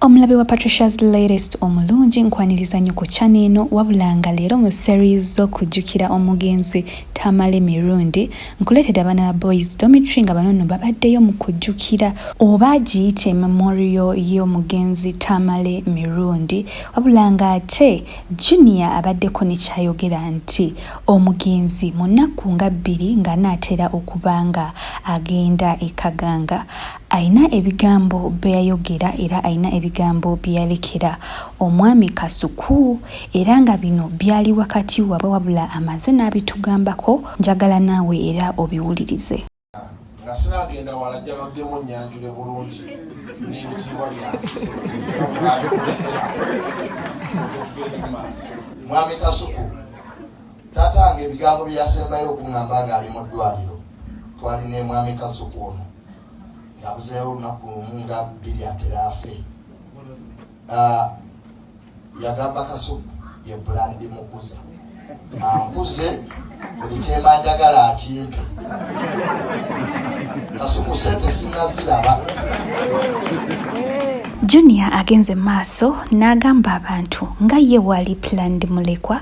Omulabe wa Patricia's Latest omulungi nkwaniriza nnyo ku channel eno wabula nga leero mu series z'okujjukira omugenzi Tamale Mirundi nkuleetedde abaana ba Boys Dormitory nga bano nno babaddeyo mu kujjukira oba giyite memorial y'omugenzi Tamale Mirundi wabula nga ate Junior abaddeko ne kyayogera nti omugenzi mu nnaku nga bbiri ng'anaatera okuba nga agenda e Kaganga Alina ebigambo bye yayogera era alina ebigambo bye yalekera omwami Kasuku era nga bino byali wakati wabwe wabula amaze n'abitugambako njagala naawe era obiwulirize. nga sinaagenda wala ajja baddemu nnyanjule bulungi n'ebitiibwa byange mwami Kasuku Taata wange ebigambo bye yasembayo okuŋŋamba ng'ali mu ddwaliro twali ne mwami Kasuku ono yabuzeewo olunaku lumu nga bbiri atera afe ah, yagamba Kasuku ye bulandi mukuza ankuze buli kyemanjagala akimpe Kasuku sente sinaziraba junior agenze maaso n'agamba abantu nga ye wali planned mulekwa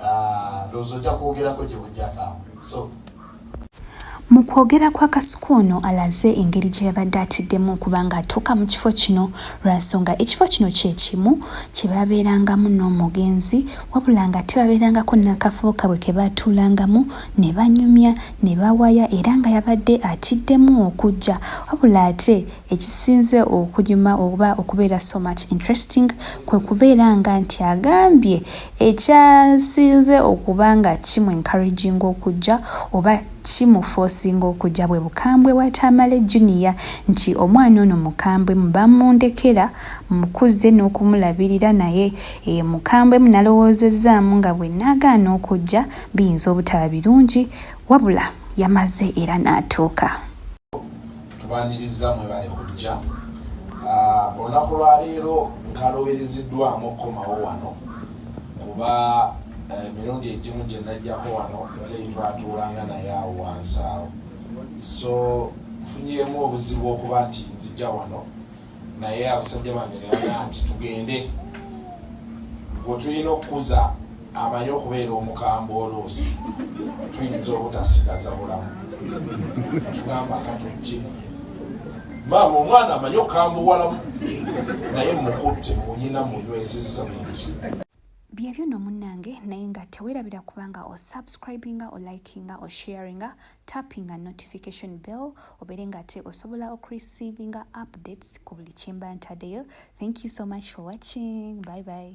Ah, mu kwogera kwa kasuku ono alaze engeri gye yabadde atiddemu okuba ng'atuuka mu kifo kino lwa nsonga ekifo kino kye kimu kye babeerangamu n'omugenzi wabula nga tebabeerangako n'akafubo kabwe ke baatuulangamu ne banyumya ne bawaya era nga yabadde atiddemu okujja wabula ate Ekisinze okunyuma oba okubeera so much interesting kwe kubeera nga nti agambye ekyasinze okuba nga kimu encouraginga okujja oba kimu forcinga okujja bwe bukambwe bwa Tamale Junior nti omwana ono mukambwe mu bamundekera mukuzze n'okumulabirira naye e, mukambwe mu nalowoozezaamu nga bwe nagaana okujja biyinza obutaba birungi wabula yamaze era n'atuuka. tubaniriza mwebale kujja ah, olunaku lwaleero nkalobereziddwamu okukomawo wano kuba eh, emirundi egimu gye najjako wano nze twatuulanga naye awo wansi awo so nfunyeemu obuzibu okuba nti nzija wano naye abasajja bange nebaga nti tugende gwe tulina okukuza amanyi okubeera omukambwe oluusi tuyinza obutasigaza bulamu tugamba katujje maama omwana amanyi okukambuwalamu naye mukutte muyina munywezezza mungi byebyo no munnange naye nga tewerabira kubanga o subscribinga o likinga o sharinga tappinga notification bell obeere nga ate osobola okurecevinga updates ku buli kyemba ntadeyo thank you so much for watching bye bye